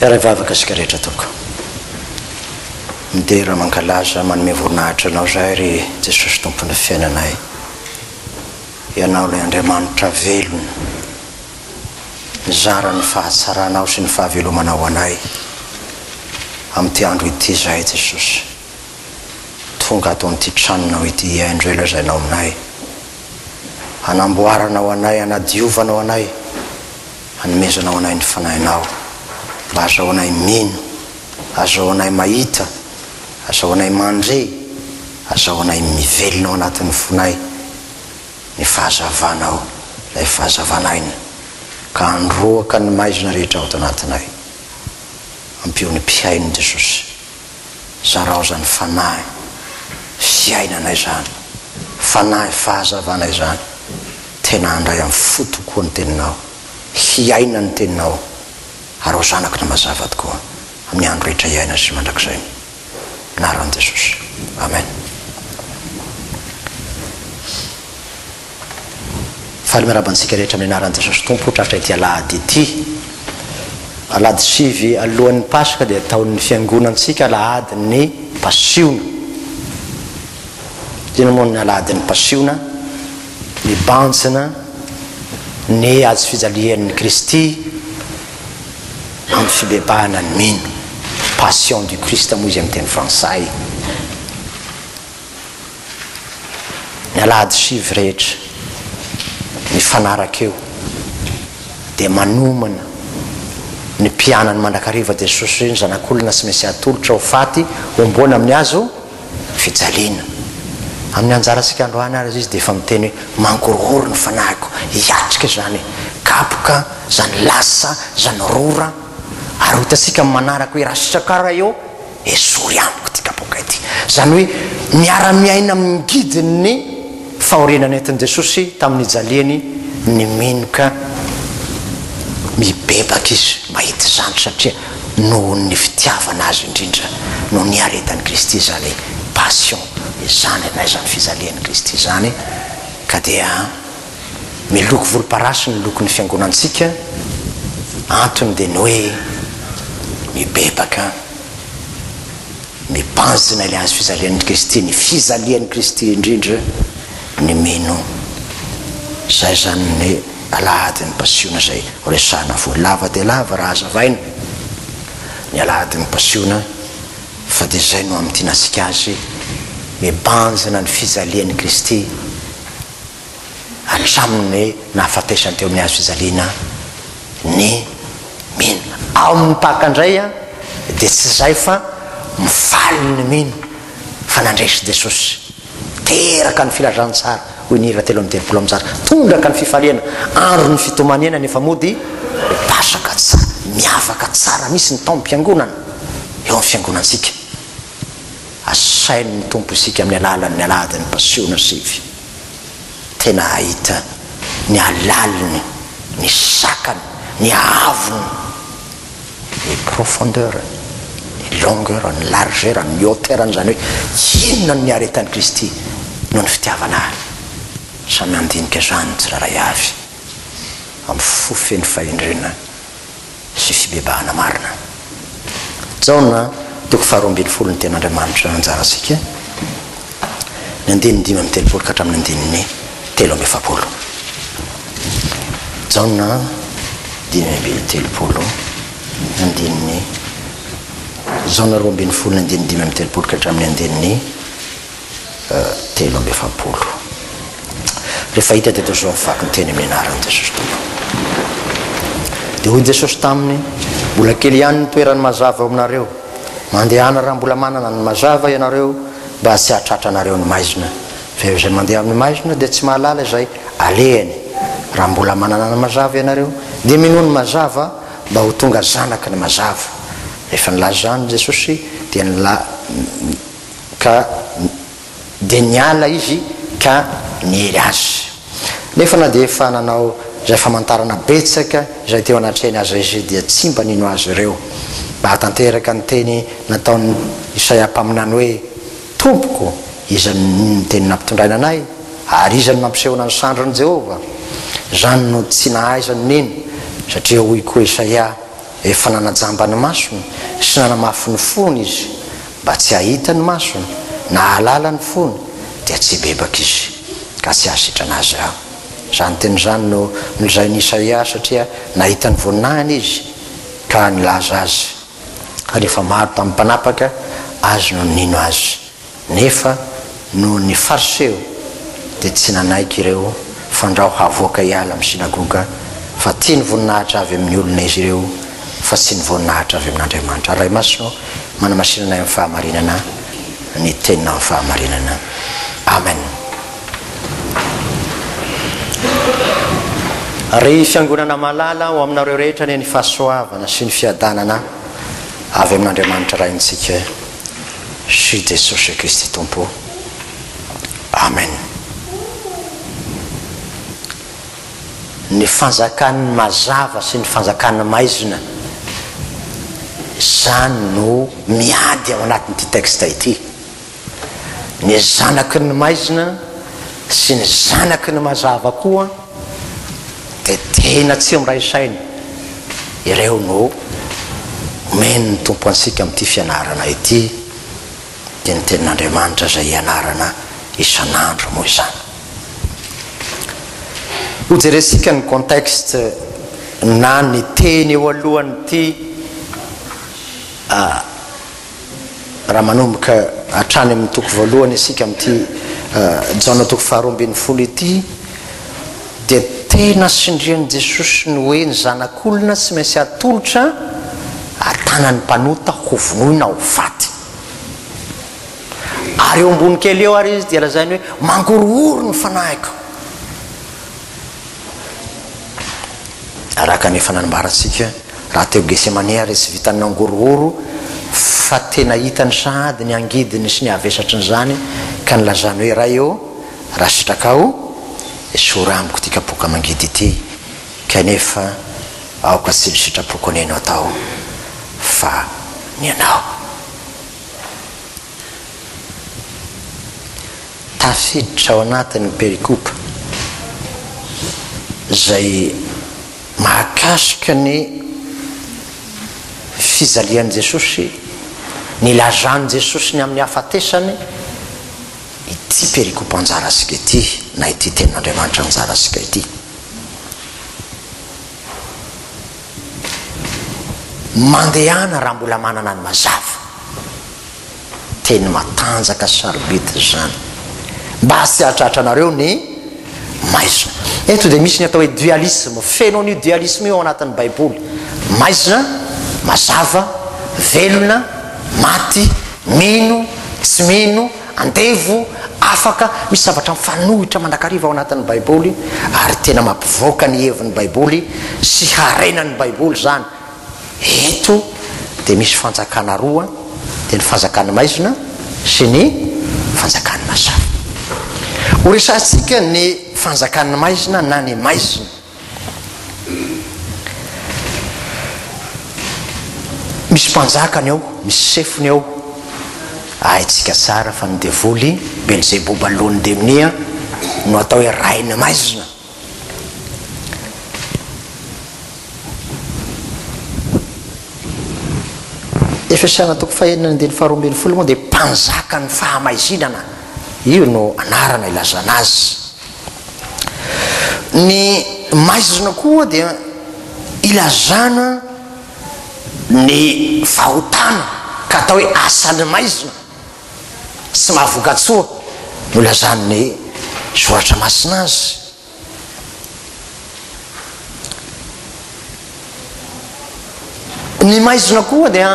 Iaraha vavaka isika rehetra tompoko. Midera mankalaza manome voninahitra Anao izahay ry Jesosy Tompon'ny fiainanay. Ianao ilay Andriamanitra velona nizara ny fahatsaranao sy ny fahavelomanao ho anay amin'ity andro ity izahay Jesosy. Tonga ato amin'ity tranonao ity hihaino izay lazainao aminay. hanamboaranao anay, hanadiovanao anay, hanomezanao anay ny Fanahinao, mba azahoanay mino, azahoanay mahita, azahoanay mandre, azahoanay mivelona ao anatin'ny fonay ny Fahazavanao, ilay Fahazavan'aina, ka handroaka ny maizina rehetra ao ato anatinay. Ampio ny mpihaino, Jesosy. zaraozan'ny fanahy fiainana izany, fanahy fahazavana izany, tena handray amin'ny fo tokoa ny teninao, hiaina ny teninao ary ho zanako ny mazava tokoa amin'ny andro rehetra iainana sy mandrakizay ny anaran'i Jesosy. Amen. Faly miarahaba antsika rehetra amin'ny anaran'i Jesosy Tompo hotratra ity alahady ity. Alahady sivy alohan'ny Paska dia ataon'ny fiangonantsika alahadin'ny Pasiona. Inona moa ny alahadin'ny Pasiona? Mibanjina ny hazo fijalian'ny Kristy amin'ny fibebahana ny mino. Passion du Christ moa izy amin'ny teny frantsay. Ny alahady sivy rehetra mifanaraka eo dia manomana ny mpianany mandrakariva Jesosy hoe ny Zanak'olona sy Mesia atolotra ho faty homboana amin'ny hazo fijaliana. Amin'ny anjarantsika androany ary Izy dia efa miteny hoe, Mangorohoro ny fanahiko, hiatrika izany kapoka, izany lasa, izany rora, ary ho hitantsika amin'ny manaraka hoe, Rasitraka raha eo Esory amiko ity kapoaka ity. Izany hoe miara-miaina amin'ny ngidin'ny fahoriana nentin'i Jesosy tamin'ny nijaliany ny minoka. Mibebaka izy mahita izany satria noho ny fitiavana azy indrindra no niaretan'i Kristy izany passion izany na izany fijalian'i Kristy izany ka dia Miloko volomparasy ny lokon'ny fiangonantsika, antony dia ny hoe mibebaka, mibanjina ilay hazo fijalian'i Kristy, ny fijalian'i Kristy indrindra ny mino. Izay izany ny alahadin'ny pasiona izay horesahana voa lava dia lava raha hazavaina, ny alahadin'ny pasiona fa dia izay no hamintinantsika azy, mibanjina ny fijalian'i Kristy, hatramin'ny nahafatesany teo amin'ny hazo fijaliana ny mino. Ao amin'ny Paka indray dia tsy izay fa mifaly ny mino fa nandresy Jesosy. Teraka ny filazantsara, hoy ny hira telo amby telopolo amby zato. Tondraka ny fifaliana, andron'ny fitomaniana nefa mody Pasaka. Tsara, miavaka tsara mihitsy ny taom-piangonana eo amin'ny fiangonantsika. Asain'ny Tompo isika amin'ny alalan'ny Alahadin'ny Pasiona sivy. tena hahita ny halaliny, ny sakany, ny haavony, ny profondeur-ny, ny longueur-ny, ny largeur-ny, ny hauteur-ny, izany hoe inona no niaretan'i Kristy noho ny fitiavana ahy. Samy handinika izany ny tsirairay avy amin'ny fo feno fahendrena. sy fibebahana marina. Jaona toko faharoa ambin'ny folo Ny Tenin'Andriamanitra anjarantsika, ny andininy dimy amby telopolo ka hatramin'ny andininy telo amby efapolo. Jaona dimy amby telopolo, andininy Jaona roa ambin'ny folo, ny andininy dimy amby telopolo ka hatramin'ny andininy telo amby efapolo. Rehefa hita teto izao ny vaky ny teny amin'ny anaran'i Jesosy Tompo. Dia hoy Jesosy taminy, mbola kely ihany ny toeran'ny mazava ao aminareo. Mandehana raha mbola manana ny mazava ianareo mba tsy hahatratra anareo ny maizina. Fa eo izay mandeha amin'ny maizina dia tsy mahalala izay alehany. Raha mbola manana ny mazava ianareo dia minoa ny mazava mba ho tonga zanaky ny mazava. Rehefa nilaza izany Jesosy dia ny ka dia niala izy ka niery azy. Nefa na dia efa nanao izay famantarana betsaka izay teo anatrehany aza izy dia tsy mba nino azy ireo. Nahatanteraka ny teny nataon'i Isaia mpaminany hoe, Tompoko, iza no miteny nampitondraina anay? Ary iza no nampisehoana ny sandrin'i Jehovah? Izany no tsy nahaizany nino, satria hoy koa Isaia, Efa nanajamba ny masony sy nanamafy ny fony izy, mba tsy hahita ny masony na hahalala ny fony, dia tsy hibebaka izy, ka tsy hahasitrana azy Aho. Izany teny izany no nolazain'i Isaia, satria nahita ny voninahiny izy, ka nilaza azy, ary efa maro tamin'ny mpanapaka Azy no nino Azy, nefa Noho ny Fariseo dia tsy nanaiky ireo fandrao havoaka hiala amin'ny synagoga, fa tia ny voninahitra avy amin'ny olona izy ireo, fa tsy ny voninahitra avy amin'Andriamanitra. Ray Masina ô, manamasinana anay amin'ny fahamarinana ny Teninao amin'ny fahamarinana. Amen. Ry Fiangonana malala, ho aminareo rehetra anie ny fahasoavana sy ny fiadanana avy amin'Andriamanitra Raintsika. Jesosy Jesosy Kristy Tompo Amen Ny fanjakan'ny mazava sy ny fanjakan'ny maizina izany no miady ao anatin'ity texte ity ny zanaky ny maizina sy ny zanaky ny mazava koa dia tena tsy miray saina ireo no omen'ny Tompo antsika amin'ity fianarana ity, dia ny tenin'Andriamanitra izay ianarana isan'andro moa izany. Hojerentsika ny contexte na ny teny eo alohan'ity Raha manomboka hatrany amin'ny toko voalohany isika amin'ity Jaona toko faharoa ambin'ny folo ity dia tena sindrian'i Jesosy ny hoe ny zanak'olona tsy maintsy atolotra an-tanan'ny mpanota ho vonoina ho faty. Ary eo ambony kely eo ary izy dia lazainy hoe mangorohoro ny fanahiko. Araka ny efa nanambarantsika, raha teo Getsemane ary tsy vitan'ny nangorohoro fa tena hitany sahady ny angidiny sy ny havesatry ny izany ka nilazany hoe, Ray ô, raha sitrakao, esory amiko ity kapoaka amangidy ity, kanefa aoka tsy ny sitrapoko neno atao fa ny anao. Tafiditra ao anatin'ny perikopa izay mahakasika ny fijalian'i Jesosy, ny ilazan'i Jesosy ny amin'ny hahafatesany, ity perikopa anjara antsika ity, na ity Tenin'Andriamanitra anjara antsika ity. Mandehana raha mbola manana ny mazava. Teny matanjaka sarobidy izany. Mba tsy hahatratranareo ny maizina. Eto dia misy ny atao hoe dualisme. Feno an'io dualisme io ao anatin'ny Baiboly. Maizina, mazava, velona, maty, mino, tsy mino. Andevo, afaka, misy zavatra mifanohitra mandrakariva ao anatin'ny Baiboly, ary tena mampivoaka ny hevin'ny Baiboly sy harenan'ny Baiboly izany. Eto dia misy fanjakana roa, dia ny fanjakan'ny maizina sy ny fanjakan'ny mazava. Horesahantsika ny fanjakan'ny maizina na ny maizina. Misy mpanjakany ao, misy sefony ao, haintsika tsara fa ny devoly Belzeboba loan'ny demonia no atao hoe rain'ny maizina. Efesiana toko fahenina andininy faharoa ambin'ny folo moa dia mpanjakan'ny fahamaizinana, io no anarana ilazana azy. Ny maizina koa dia ilazana ny fahotana ka atao hoe asan'ny maizina, tsy mahavokatsoa no ilazan'ny Soratra Masina azy. Ny maizina koa dia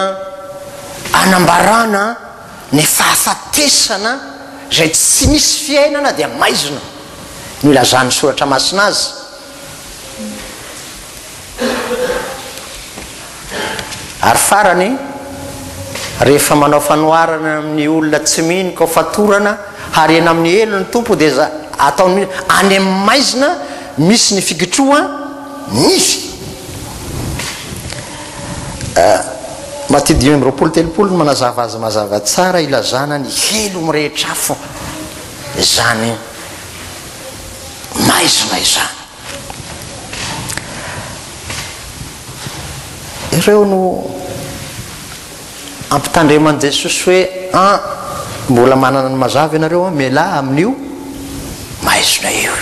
anambarana. Ny fahafatesana izay tsy misy fiainana dia maizina, no ilazan'ny Soratra Masina azy. Ary farany, rehefa manao fanoharana amin'ny olona tsy mino ka ho fatorana harena amin'ny helo ny Tompo dia za, ataony mino, any amin'ny maizina misy ny fikitroha nify. Eh, Maty dimy amby roapolo telopolo no manazava azy mazava tsara ilazana ny helo mirehitra afo izany maizina izany. Ireo no ampitandreman'i Jesosy hoe an, mbola manana ny mazava ianareo an, mialà amin'io maizina io.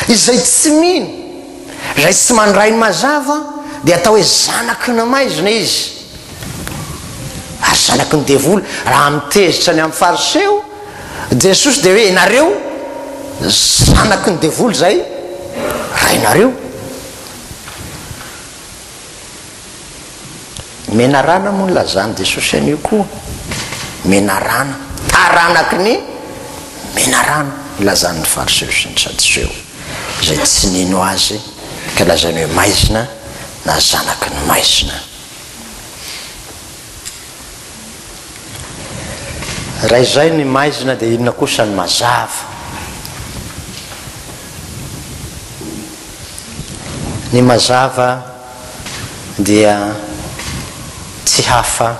Izay tsy mino Izay tsy mandray mazava dia atao hoe zanaky ny maizina izy ary zanaky ny devoly raha mitezitra ny amin'ny fariseo Jesosy dia hoe ianareo zanaky ny devoly izay rainareo. Menarana moa nilazan'i Jesosy an'io koa. Menarana. Taranaky ny menarana, nilazan'ny Fariseo sy ny Sadoseo, izay tsy nino Azy, ka lazainy hoe maizina na zanaky ny maizina. Raha izay ny maizina dia inona kosa ny mazava? Ny mazava dia tsy hafa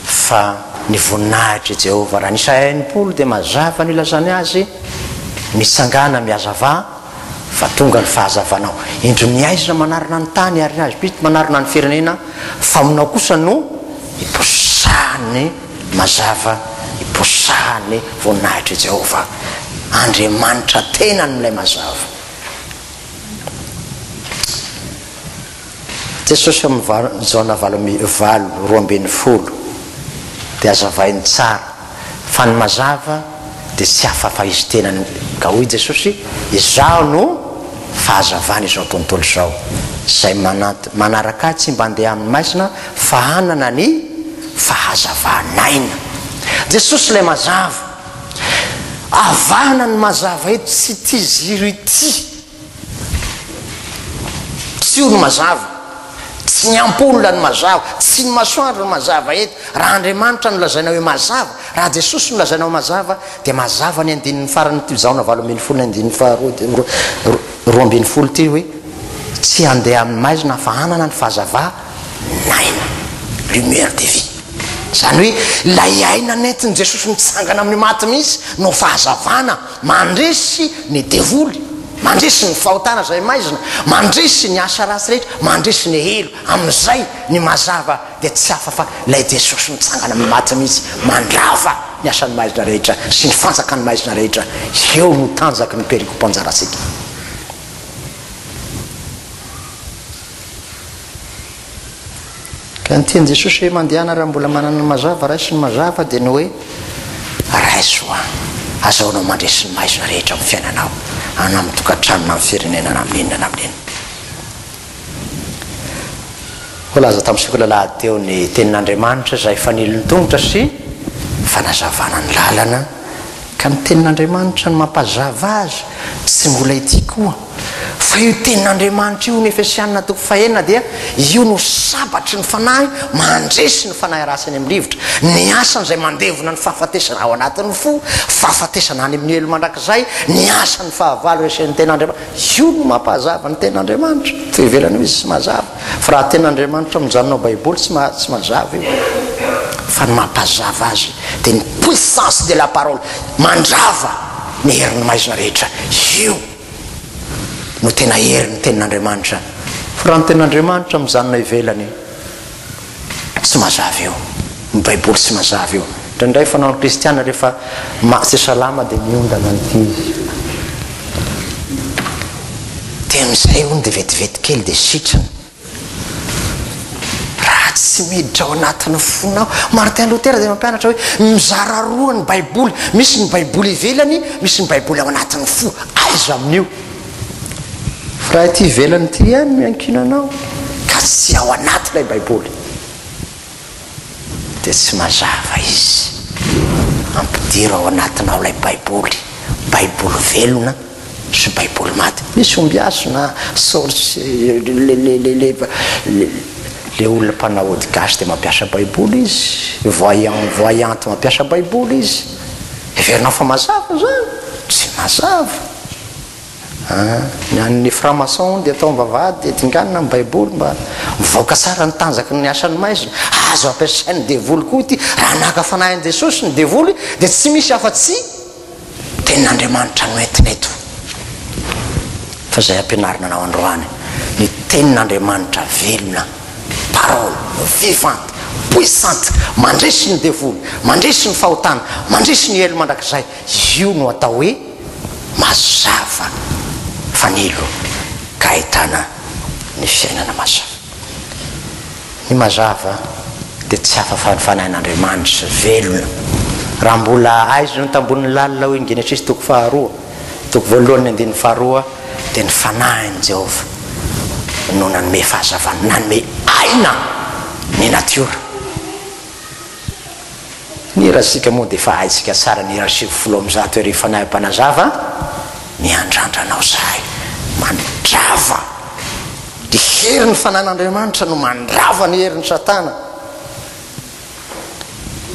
fa ny voninahitr'i Jehovah. Raha ny Isaia enimpolo dia mazava ny ilazany azy, Mitsangàna mihazavà, Fa tonga ny fahazavanao. Indro ny aizina manarona ny tany ary ny hazobidy manarona ny firenena, fa aminao kosa no iposahan'ny mazava, iposahan'ny voninahitr'i Jehovah, Andriamanitra tenany, ilay mazava. Jesosy amin'ny valo Jaona valo amby valo roa ambin'ny folo dia azavainy tsara fa ny mazava dia tsy hafa fa izy tenany ka hoy Jesosy izaho no fahazavana izao tontolo izao izay manaraka ahy tsy mba handeha amin'ny maizina fa hanana ny fahazavanaina Jesosy ilay mazava avahana ny mazava eto tsy ity ziro ity Tsy io no mazava. Tsy ny ampoule no mazava. Tsy ny masoandro no mazava eto. Raha Andriamanitra no lazaina hoe mazava, raha Jesosy no lazaina ho mazava, dia mazava ny andininy faran'ity Jaona valo ambin'ny folo ny andininy faharoa dia roa ambin'ny folo ity hoe, Tsy handeha amin'ny maizina fa hanana ny fahazava-naina, lumière de vie. Izany hoe ilay aina nentin'i Jesosy nitsangana amin'ny maty mihitsy no fahazavana. Mandresy ny devoly, mandresy ny fahotana izay maizina, mandresy ny asa ratsy rehetra, mandresy ny helo, amin'izay ny mazava dia tsy hafa fa ilay Jesosy nitsangana amin'ny maty mihitsy mandrava ny asan'ny maizina rehetra sy ny fanjakan'ny maizina rehetra, eo no tanjaky ny perikopa anjarantsika. Ka ny tian'i Jesosy hoe mandehana raha mbola manana ny mazava, raiso ny mazava dia ny hoe raiso an! Azahoanao mandresy ny maizina rehetra amin'ny fiainanao, na amin'ny tokantrano, na amin'ny firenena, na amin'inona na amin'inona. Voalaza tamin'ny sekoly alahady teo ny tenin'Andriamanitra izay fanilon'ny tongotra sy fanazavana ny lalana, ka ny tenin'Andriamanitra no mampazava azy, tsy mbola ity koa. Fa io Tenin'Andriamanitra io ny Efesianina toko fahenina dia io no sabatry ny fanahy mandresy ny fanahy ratsy any amin'ny rivotra, ny asany izay mandevona ny fahafatesana ao anatin'ny fo, fahafatesana any amin'ny helo mandrakizay, ny asan'ny fahavalo resen'ny Tenin'Andriamanitra. Io no mampahazava ny Tenin'Andriamanitra. Fa io ivelany io izy tsy mazava. Fa raha Tenin'Andriamanitra mijanona ao Baiboly tsy ma, tsy mazava io. Fa ny mampahazava azy dia ny puissance de la parole, mandrava ny herin'ny maizina rehetra. Io. no tena hery ny tenin'Andriamanitra fa raha ny tenin'Andriamanitra mijanona ivelany tsy mazava io ny baiboly tsy mazava io indraindray fanao ny kristiana rehefa tsy salama dia miondana an'ity izy dia amin'izay ony dia vetivety kely dia sitrana Raha tsy miditra ao anatin'ny fonao. Martin Luther dia nampianatra hoe mizara roa ny Baiboly, misy ny Baiboly ivelany, misy ny Baiboly ao anatin'ny fo. Aiza amin'io? Raha ity ivelany ity ihany no iankinanao, ka tsy ao anaty ilay Baiboly. dia tsy mazava izy. Ampidiro ao anatinao ilay Baiboly, Baiboly velona sy Baiboly maty. Misy ombiaso na source, ilay olona mpanao ody gasy dia mampiasa Baiboly izy, voyant, voyante mampiasa Baiboly izy. Heverinao fa mazava izany? Tsy mazava. Ny an'ny franc-maçon hono dia atao am-bavahady dia dinganina ny baiboly mba mivaoka tsara ny tanjaky ny asan'ny maizina. Azo ampiasain'ny devoly koa ity. Raha naka fanahy an'i Jesosy ny devoly dia tsy misy afa-tsy tenin'Andriamanitra no entina eto. Fa izay ampianarina anao androany, ny tenin'Andriamanitra velona, parole vivante, puissante, mandresy ny devoly, mandresy ny fahotana, mandresy ny helo mandrakizay. Izy io no atao hoe mazava fanilo ka ahitana ny fiainana mazava. Ny mazava dia tsy hafa fa ny fanahin'Andriamanitra velona. Raha mbola aizina ny tambohon'ny lalina hoy ny Genesisy toko faharoa toko voalohany andininy faharoa dia ny fanahin'i Jehovah no nanome fahazavana, nanome aina ny natiora. Ny hirantsika moa dia efa haintsika tsara ny hira sivy folo amby zato Ery Fanahy Mpanazava a! Miandrandra anao zahay mandrava ny herin'ny fanan'Andriamanitra no mandrava ny herin'i Satana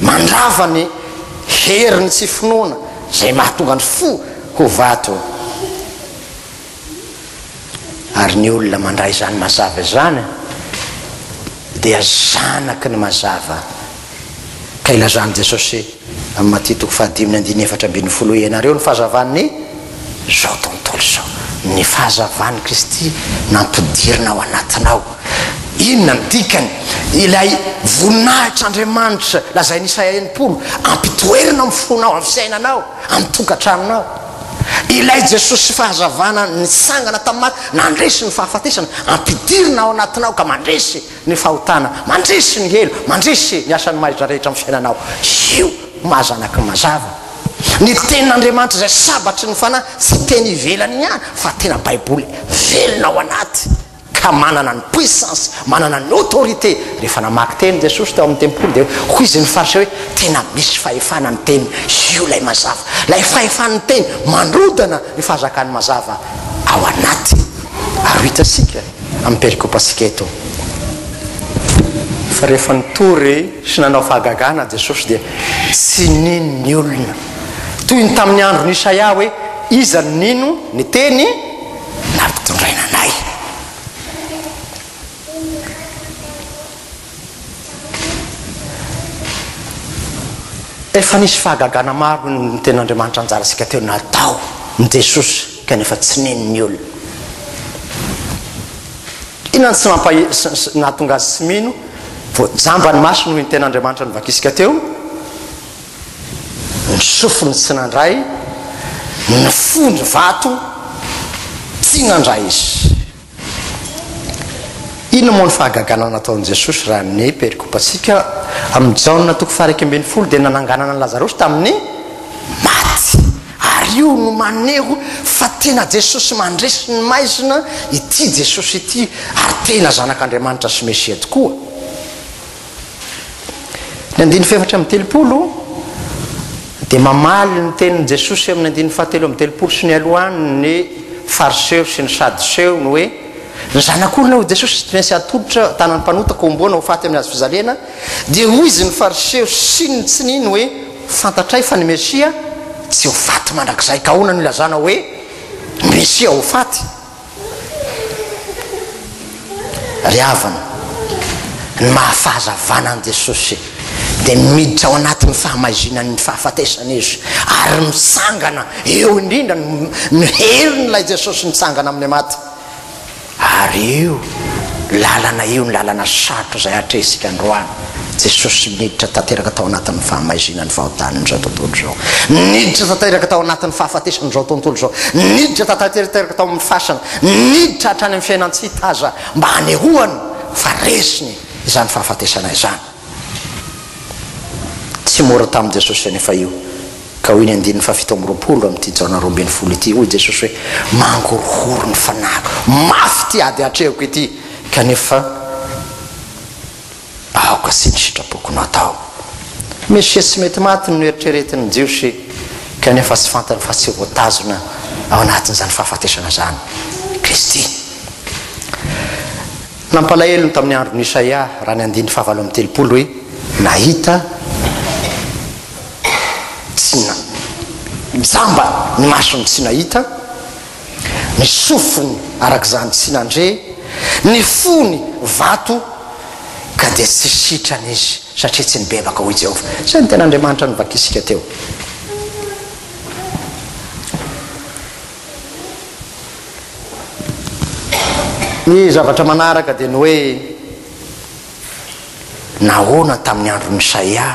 mandrava ny herin'ny tsy finoana izay mahatonga ny fo ho vato ary ny olona mandray izany mazava izany dia zanaky ny mazava ka ilazan'i Jesosy amin'ny Matia toko fahadiminy andiny efatra ambin'ny folo ianareo ny fahazavan'ny zao tontolo izao ny fahazavan'i Kristy nampidirina ao anatinao inona ny dikany ilay voninahitr'Andriamanitra lazain'Isaia enimpolo ampitoerina amin'ny fonao amin'ny fiainanao amin'ny tokantranonao Ilay Jesosy Fahazavana nitsangana tamin'ny maty, nandresy ny fahafatesana, ampidirina ao anatinao ka mandresy ny fahotana, mandresy ny helo, mandresy ny asan'ny mahaiza rehetra amin'ny fiainanao. Io maha zanaky ny mazava. Ny Tenin'Andriamanitra izay sabatry ny fanahy, tsy teny ivelany ihany fa tena Baiboly velona ao anaty. ka manana ny puissance, manana ny autorité, rehefa namaky teny Jesosy tao amin'ny tempoly dia hoy izy ny fariseo hoe tena misy fahefana ny teny, io ilay mazava, ilay fahefan'ny teny mandrodana ny fahazakan'ny mazava ao anaty, ary ho hitantsika amin'ny perikopantsika eto fa rehefa nitory sy nanao fahagagana Jesosy dia tsy nino ny olona toy ny tamin'ny andron'i Isaia hoe iza no nino ny teny nampitondraina anay. Efa nisy fahagagana maro ny Tenin'Andriamanitra anjarantsika teo natao ny Jesosy kanefa tsy nino ny olona. Inona no tsy nampa nahatonga azy tsy mino? Voajamba ny masony hoy ny Tenin'Andriamanitra novakisika teo. Ny sofiny tsy nandray, ny fony vato tsy nandray izy. Inona moa ny fahagagana nataon'i Jesosy raha ny perikopantsika amin'i Jaona toko faha-iraika ambin'ny folo dia nananganana an'i Lazarosy tamin'ny maty. Ary io no maneho fa tena Jesosy mandresy ny maizina ity Jesosy ity ary tena Zanak'Andriamanitra sy Mesia tokoa. Ny andininy fahefatra amby telopolo dia mamaly ny tenin'i Jesosy amin'ny andininy fahatelo amby telopolo sy ny alohan'ny fariseo sy ny sadoseo ny hoe ny zanak'olona ho Jesosy tsy maintsy atolotra tanan'ny mpanota ka homboana ho faty amin'ny hazo fizalena dia hoy izy ny fariseo sy ny tsy nino hoe fantatray fa ny Mesia tsy ho faty mandrakizay ka ahoana no ilazana hoe Mesia ho faty Ry havana, ny maha-fahazavana an'i Jesosy dia miditra ao anatin'ny fahamaizinan'ny fahafatesana Izy ary mitsangana eo indrindra ny herin'ilay Jesosy nitsangana amin'ny maty. Ary io lalana io ny lalana sarotra izay atrehintsika androany. Jesosy niditra tanteraka tao anatin'ny fahamaizinan'ny fahotàn'izao tontolo izao. Niditra tanteraka tao anatin'ny fahafatesan'izao tontolo izao. Niditra tanteraka tao amin'ny fasana. Niditra hatrany amin'ny fiainan-tsy hita aza mba hanehoany fa resiny izany fahafatesana izany. Tsy mora tamin'i Jesosy anefa io. Ka hoy ny andininy fahafito amby roapolo amin'ity Jaona roa ambin'ny folo ity, hoy Jesosy hoe, Mangorohoro ny fanahiko. Mafy ity ady atrehiko ity, kanefa. aoka sy ny sitrapoko no atao. Mesia sy mety maty no noeritreretin'ny Jiosy, kanefa tsy fantany fa tsy voatazona ao anatin'izany fahafatesana izany i Kristy. Nampalahelo ny tamin'ny andron'i Isaia raha ny andininy fahavalo amby telopolo hoe, Nahita tsy na, jamba ny masony tsy nahita, Ny sofiny araka izany tsy nandre, ny fony vato ka dia tsy sitrana izy satria tsy nibebaka, hoy Jehovah. Izay no tena Andriamanitra novakisika teo. Ny zavatra manaraka dia ny hoe nahoana tamin'ny andron'i Isaia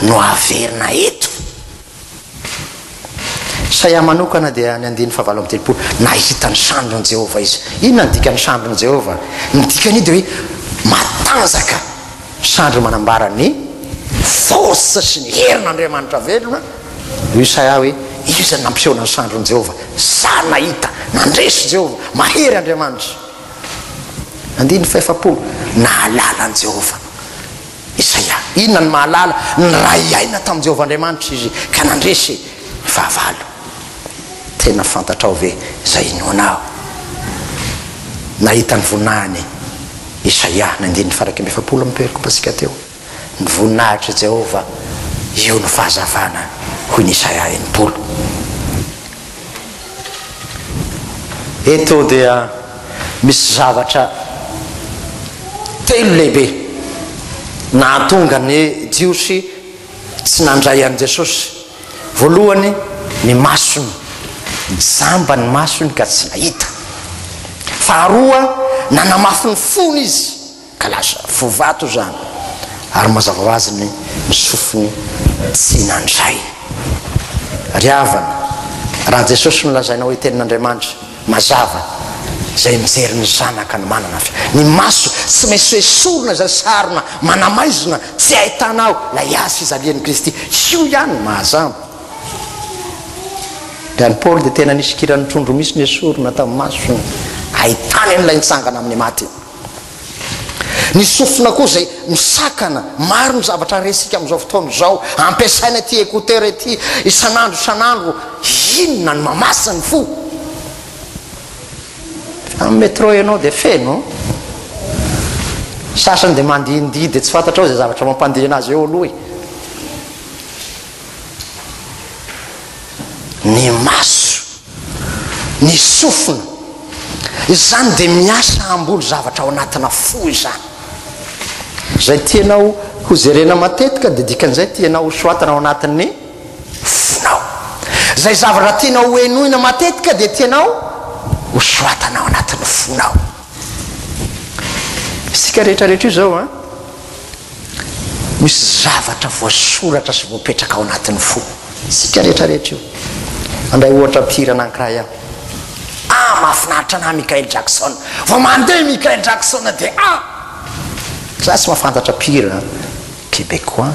no averina eto? Isaia manokana dia ny andininy fahavalo amby telopolo, Nahita ny sandrin'i Jehovah izy. Inona no dikan'ny sandrin'i Jehovah? Ny dikan'io dia hoe matanjaka. Sandry manambara ny force sy ny herin'Andriamanitra velona io Isaia hoe, Iza no nampiseho ny sandrin'i Jehovah? Za no nahita. Nandresy Jehovah. Mahery Andriamanitra. Andininy fahefapolo, Nahalala an'i Jehovah. Isaia. Inona no mahalala? Niray aina tamin'i Jehovah Andriamanitra izy ka nandresy fahavalo. Tena fantatrao ve izay inoanao? Nahita ny voninahiny Isaia, ny andininy fahairaika amby efapolo amin'ny toerako ampatsika teo. Ny voninahitr'i Jehovah, io no fahazavana, hoy ny Isaia enimpolo. Eto dia misy zavatra telo lehibe nahatonga ny Jiosy tsy nandray an'i Jesosy. Voalohany, ny masony. Jamba ny masony ka tsy nahita. Faharoa, nanamafy ny fony izy. Ka lasa fo vato izany. Ary mazava ho azy ny sofiny tsy nandray. Ry havana, raha Jesosy no lazaina hoe Tenin'Andriamanitra, mazava, izay mijery ny Zanaka no manana fy. Ny maso tsy maintsy esorina izay sarona manamaizina tsy ahitana ao ilay Azy fijalian'i Kristy. Io ihany no mahazamba. Dia an'i Paoly dia tena nisy kiran'ny trondro misy nesorina tamin'ny masony, ahitany an'ilay nitsangana amin'ny maty. Ny sofina koa izay misakana. Maro ny zavatra resika amin'izao fotoana izao. Ampiasaina ity écouteur ity isan'andro isan'andro. Inona no mamasy ny fo? Amin'ny métro ianao dia feno. Ny sasany dia mandihindihy dia tsy fantatrao izay zavatra mampandihy an'azy eo aloha e. Ny maso. Ny sofina. Izany dia miasa hamboly zavatra ao anatina fo izany. Izay tianao ho jerena matetika dia dikan'izay tianao ho soatana ao anatin'ny fonao. Izay zavatra tianao ho henoina matetika dia tianao ho soatana ao anatin'ny fonao. Isika rehetra rehetra io zao an, misy zavatra voasoratra sy voapetraka ao anatin'ny fo. Isika rehetra rehetra io. Handray ohatra mpihira anankiray aho. Ah, mahafinaritra anah Michael Jackson. Vao mandeha i Michael Jackson dia ah! Za tsy mahafantatra mpihira Québécois.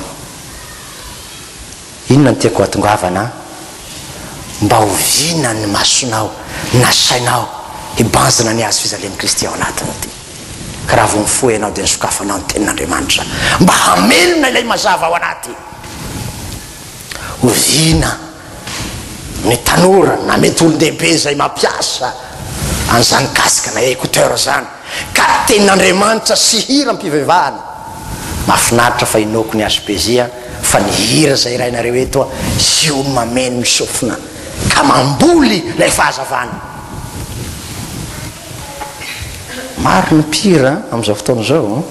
Inona no tiako hatongavana an? Mba oviana ny masonao na sainao hibanjina ny hazo fijalian'i Kristy ao anatinao ity? Ka raha vao mifoha ianao dia nosokafanao ny Tenin'Andriamanitra mba hamelona ilay mazava ao anaty. Oviana ny tanora na mety olon-dehibe izay mampiasa an'izany casque na écouteur izany? ka tenin'Andriamanitra sy hira am-pivevahana. Mahafinaritra fa inoako ny HBJ a, fa ny hira izay hirainareo eto a, io no mameno ny sofina ka mamboly ilay fahazavana. Maro ny mpihira amin'izao fotoana izao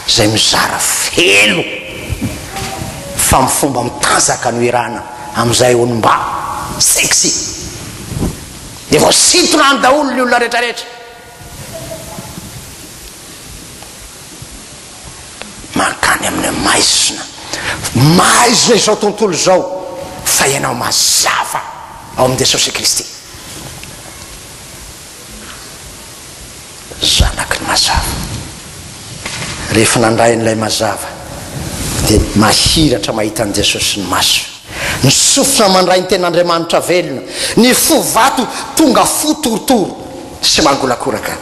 izay mizara feno fa amin'ny fomba mitanjaka no hirana amin'izay onim-ba, sexy. Dia vao sitrano daholo ny olona rehetra rehetra. Mankany amin'ny maizina. Maizina izao tontolo izao fa ianao mazava ao amin'i Jesosy Kristy. zanaky ny mazava. Rehefa nandray an'ilay mazava dia nahiratra mahita an'i Jesosy ny maso. Ny sofina mandray ny ten'Andriamanitra velona, ny fo vato tonga fo torotoro sy mangolakoraka.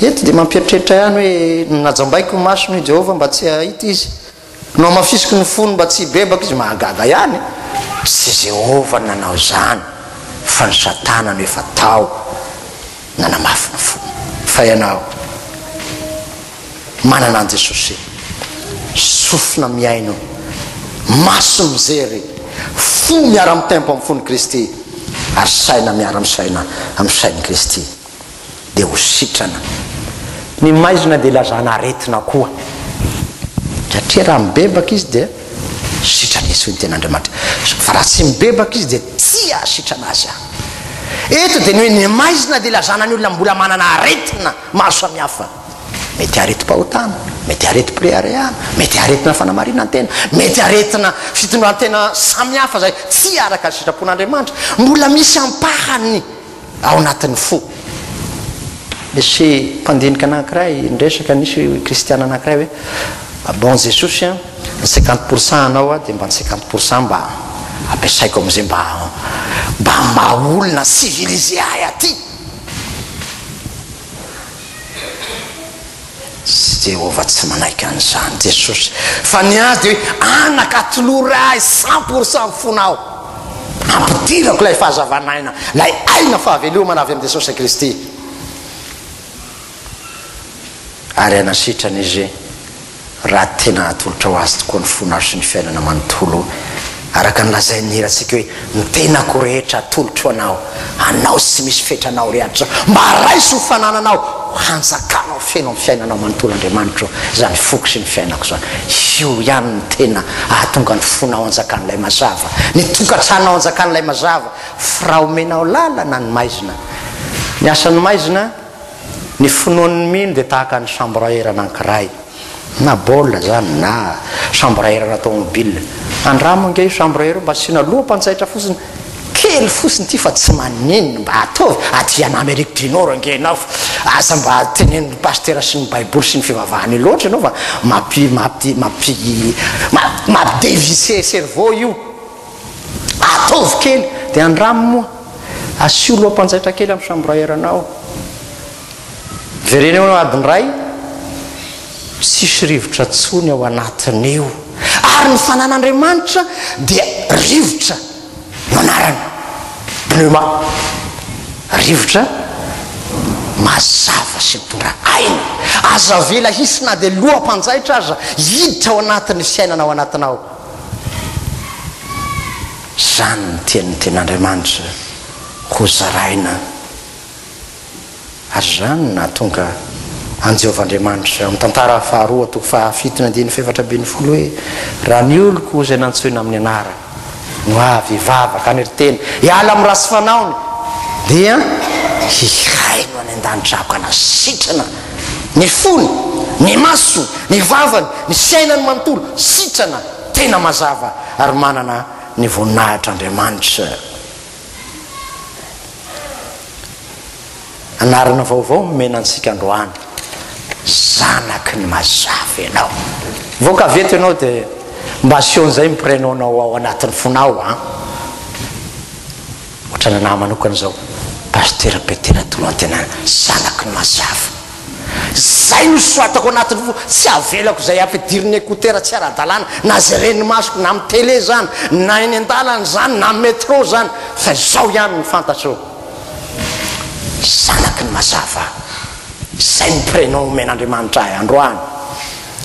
Eto dia mampieritreritra ihany hoe, Najambaiko ny masony hoy Jehovah mba tsy hahita izy. Nohamafisiko ny fony mba tsy hibebaka izy, mahagaga ihany, tsy Jehovah no nanao izany fa ny satana no efa tao nanamafy ny fony. Fa ianao, manana an'i Jesosy, sofina mihaino, maso mijery, fo miara-mitempo amin'ny fon'i Kristy ary saina miara-misaina amin'ny sain'i Kristy. dia ho sitrana. Ny maizina dia ilazana aretina koa, satria raha mibebaka izy dia sitrana izy, hoy ny tenin'Andriamanitra, fa raha tsy mibebaka izy dia tsy hahasitrana azy Aho. Eto dia ny hoe ny maizina dia ilazana ny olona mbola manana aretina maro samihafa. Mety aretim-pahotana, mety aretim-pireharehana, mety aretina fanamarinan-tena, mety aretina fitondran-tena samihafa izay tsy araka ny sitrapon'Andriamanitra. Mbola misy ampahany. ao anatin'ny fo. Nisy mpandinika anankiray niresaka, nisy kristiana anankiray hoe, bon Jesosy an, ny cinquante pour cent anao aho dia mba ny cinquante pour cent mba ampiasaiko amin'izay mba mba maha olona civilisé ahy aty. Tsy Jehovah tsy manaiky an'izany Jesosy fa ny azy dia hoe, Anaka, atolory Ahy cent pour cent ny fonao. Ampidirako ilay fahazavan'aina, ilay aina fahavelomana avy amin'i Jesosy Kristy. Ary anasitrana Izy. raha tena hatolotra ho Azy tokoa ny fonao sy ny fiainana manontolo, araka ny lazain'ny hirantsika hoe, Ny tenako rehetra atolotro ho Anao, Anao tsy misy fetra Anao re adrisa, mba raiso ho fanananao, ho hanjakanao feno amin'ny fiainanao manontolo Andriamanitra o, izany foko sy ny fiainako izany, io ihany no tena ahatonga ny fonao hanjakan'ilay mazava, ny tokantranonao hanjakan'ilay mazava, f'raha omenao lalana ny maizina, ny asan'ny maizina, Ny finoan'ny mino dia tahaka ny samboraherana ankiray, na baolina izany na samboraherana tômôbila. Andramo ange io samboraherana io mba asiana loham-pantsaitra fotsiny kely fotsiny ity fa tsy maninona, mba ataovy aty an Amerique du Nord ange ianao fa aza mba tenenin'ny pasitera sy ny baiboly sy ny fivavahana io loatra ianao fa mampi mampi mampi mampi dévisser cerveau io. Ataovy kely dia andramo moa. Asio loham-panjaitra kely amin'ny chambrieranao. Verena eo ny adiny iray, tsisy rivotra intsony ao anatiny io. Ary ny fanan'Andriamanitra dia rivotra no anarany. Pneuma. Rivotra mazava sy mitondra aina. Aza avela hisy na dia loham-panjaitra aza hiditra ao anatin'ny fiainana ao anatinao. Izany no tian'ny Tenin'Andriamanitra hozaraina, ary izany no nahatonga an'i Jehovah Andriamanitra, amin'ny Tantara faharoa toko fahafito ny andininy fahefatra ambin'ny folo hoe, Raha ny oloko izay nantsoina amin'ny anarany no avy hivavaka any ry tena, hiala amin'ny ratsy fanaony, dia hihaino any an-danitra aho ka na sitrana Ny fony, ny masony, ny vavany, ny fiainany manontolo, sitrana, tena mazava, ary manana ny voninahitr'Andriamanitra. Anarana vaovao no omena antsika androany, Zanaky ny Mazava ianao. Vao ka avy eto ianao dia mba asio an'izay ny prénom-nao ao anatin'ny fonao an! Otrany anah manokana zao Pasitera Petera Toloantenana zanaky ny Masiafa zay no soratako anatiny fo tsy avelako zay ampidiriny écouteur tsy aradalana na zay ren'ny masoko na am télé zany na eny andalana zany na metro zany fa zao ihany no fantatro zanaky ny Masiafa zay ny prénom omen'Andriamanitra ahy androany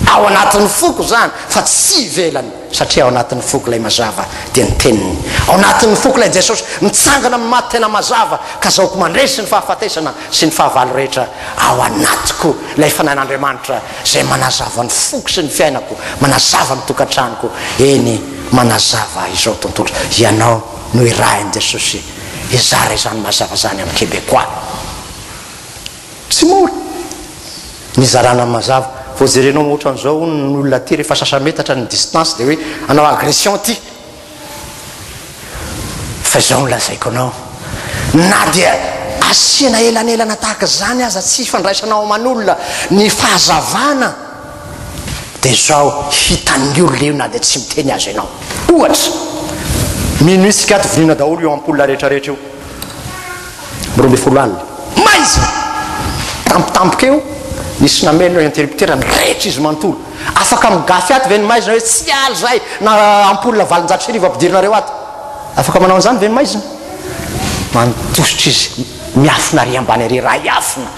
Ao anatin'ny foko izany fa tsy ivelany satria ao anatin'ny foko ilay mazava dia ny teniny. Ao anatin'ny foko ilay Jesosy mitsangana amin'ny maty tena mazava ka zaoko mandresy ny fahafatesana sy ny fahavalo rehetra ao anatiko ilay fanahin'Andriamanitra izay manazava ny foko sy ny fiainako manazava ny tokantranoko eny manazava izao tontolo ianao no irahin'i Jesosy hizara izany mazava izany amin'ny Québécois. Tsy mora! Nizarana mazava. Vao jerenao ohatran'izao hono ny olona aty rehefa sasametatra ny distance dia hoe hanao agression aty. Fa izao no lazaiko anao, na dia asiana elanelana tahaka izany aza tsy ifandraisana ao aman'olona ny fahazavana dia izao hitan'ny olona io na dia tsy miteny aza ianao. Ohatra, mino isika ato voniana daholo io ampoule rehetrarehetra io. roa ambin'ny folo alina. Maizina! Tampotampoka eo, nisy namely ny interrupteur, nirehitra izy manontolo. Afaka migafy ato ve ny maizina hoe tsy hiala izahay na ampoule valonjato sy arivo ampidirinareo ato? Afaka manao an'izany ve ny maizina? Manontositra izy, miafina ary ambany ary rahiafina.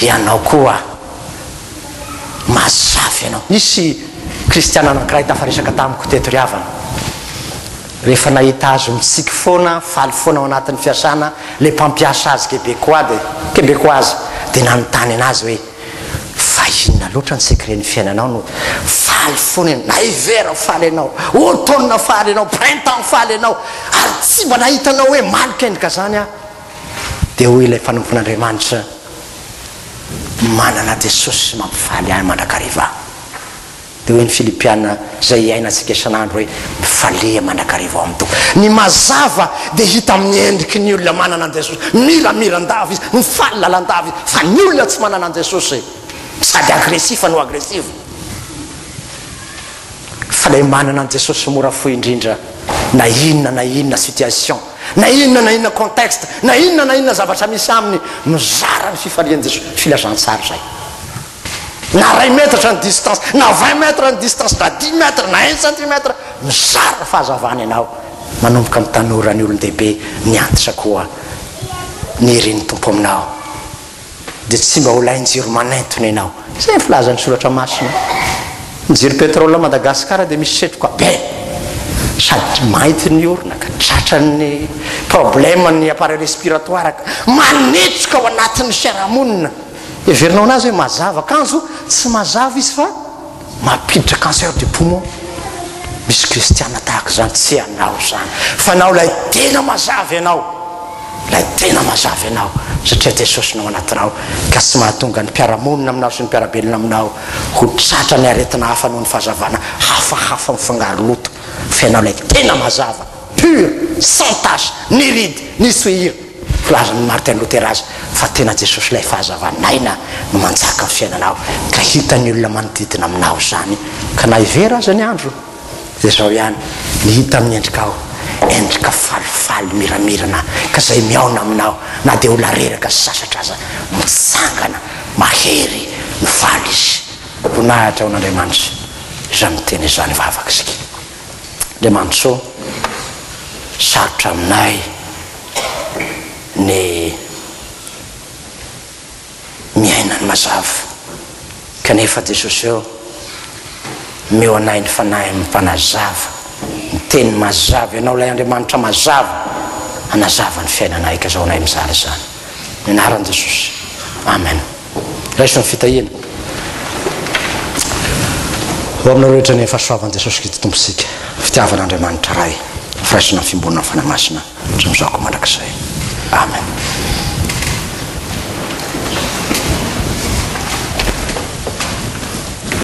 Ianao koa, mazava ianao. Nisy Kristiana anankiray tafaresaka tamiko teto ry havana. Rehefa nahita azy ho mitsiky foana, faly foana ao anatin'ny fiasana, ilay mpampiasa azy Kebekoa dia, Kebekoazy, dia nanontany anazy hoe, Fa inona loatra ny secret-n'ny fiainanao no faly foana ianao? Na hiver faly ianao, automne faly ianao, printemps faly ianao, ary tsy mba nahita anao hoe maly kendrika izany aho. Dia hoy ilay mpanompon'Andriamanitra, Manana Jesosy mampifaly ahy mandrakariva. Dia hoy ny Filipiana izay iainantsika isan'andro hoe, Mifaliha mandrakariva ao amin'ny Tompo. Ny mazava dia hita amin'ny endriky ny olona manana an'i Jesosy. Miramira an-dava izy, mifaly lalandava izy, fa ny olona tsy manana an'i Jesosy, sady agresifa no agresiva. Fa ilay manana an'i Jesosy mora fo indrindra, na inona na inona situation, na inona na inona contexte, na inona na inona zavatra misy aminy, mizara ny fifalian'i Jesosy. Filazantsara izay. Na iray metatra ny distance, na vingt mètres ny distance, na dix mètres, na un centimètre, mizara ny fahazavana ianao, manomboka amin'ny tanora, ny olon-dehibe, ny antitra koa. Ny herin'ny Tompo aminao dia tsy mba ho lain-jiro manentona ianao. Izay ny filazan'ny Soratra Masina. Ny jiro pétrole à Madagascar dia misy setroka be, sady mainty ny orona ka tratran'ny problème ny appareil respiratoire ka manetsoka ao anatin'ny fiarahamonina. Heverinao anazy hoe mazava kanjo tsy mazava izy fa mampiditra cancer du poumon. Misy kristiana tahaka izany, tsy ianao izany fa anao ilay tena mazava ianao, ilay tena mazava ianao satria Jesosy no ao anatinao ka tsy mahatonga ny mpiara-monina aminao sy ny mpiara-belona aminao ho tratra ny aretina hafa noho ny fahazavana hafahafa mifangaro loto fa ianao ilay tena mazava, pur, sans tache, ni ride, ni souillure. Filazan'i Martin Luther azy fa tena Jesosy ilay fahazavan'aina no manjaka ny fiainanao ka hitan'ny olona manodidina aminao izany ka na hevera aza ny andro dia izao ihany ny hita amin'ny endrikao endrika falifaly miramirana ka izay mihaona aminao na dia olona reraka sy sasatra aza mitsangana mahery no faly izy. Voninahitra ho an'Andriamanitra izany miteny izany vavaka isika. Andriamanitsoa, sarotra aminay ny miaina ny mazava, kanefa Jesosy ô, omeo anay ny Fanahiny Mpanazava, ny Teniny mazava, Ianao ilay Andriamanitra mazava, hanazava ny fiainanay, gazaonay mizara izany, amin'ny anaran'i Jesosy, Amen. Raiso ny fitahiana ho aminareo rehetra ny fahasoavan'i Jesosy Kristy Tompontsika, fitiavan' Andriamanitra Ray, ny firaisan' ny Fiombonana ny Fanahy Masina hatramin'izao ka mandrakizay. Amen.